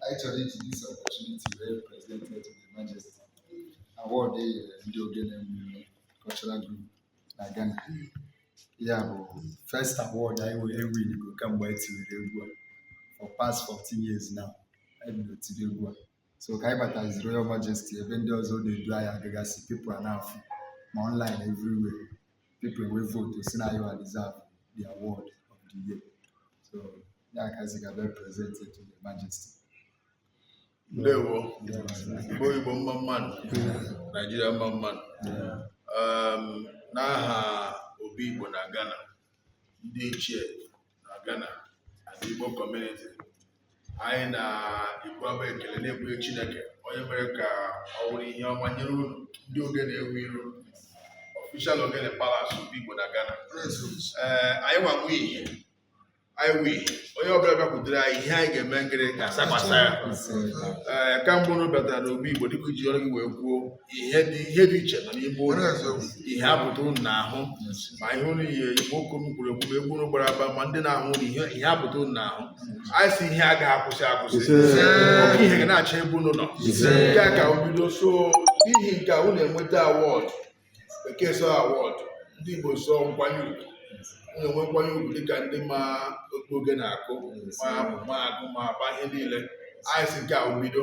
anyị chọrọ iji this opportunity wee present to the majesty award e nyere ndị ogene mmemme cultural group na Ghana ya bụ first award anyị winigo kamgbe anyị tinyere egwu a for past 14 years now anyị bido tibe egwu a so ka anyị batazi royal majesty ebe ndị ọzọ na-edu anyị agagasị people ana-afụ ma online everywhere people wee vote sị na anyịwa deserve the award of the year. So ya ka a sị ka a bịa present it to the majesty. Ndewo, Igbo Igbo mma mmanụ, Naijiria mma mmanụ. Um, N'aha Obi Igbo na Ghana, ndị ichie na Ghana and Igbo community anyị na-ekwu abụ ekele na-ekwunye Chineke onye mere ka ọ wụrụ ihe ọma nyere unu ndị ogene ewu iru official ogene palace Obi Igbo na Ghana ee anyị nwa wu ihe anyị wu ihe onye ọbụla bịakwutere anyị ihe anyị ga-eme nkiri ga-asakwasa ya ee ka mgbe unu batara n'obi Igbo dịka i ji ọnụ gị wee kwuo ihe dị ihe dị iche nọ n'ime ụlọ ihe apụta unu n'ahụ ma ihe unu ihe igbo okwu unu kwuru ekwu ma egwu unu gbara agba ma ndị na-ahụ unu ihe ihe apụta unu n'ahụ anyị si ihe a gaghị akwụsị akwụsị ọkụ ihe ga na-acha ebe unu nọ nke a ka bido so n'ihi nke a unu enweta awọdụ bekee so awọdụ ndị igbo so nkwanye ugwu unu enwe nkwanye ugwu dịka ndị ma akụ ogene akụ ma amụ ma agụ ma agba ihe niile anyị si nke a bido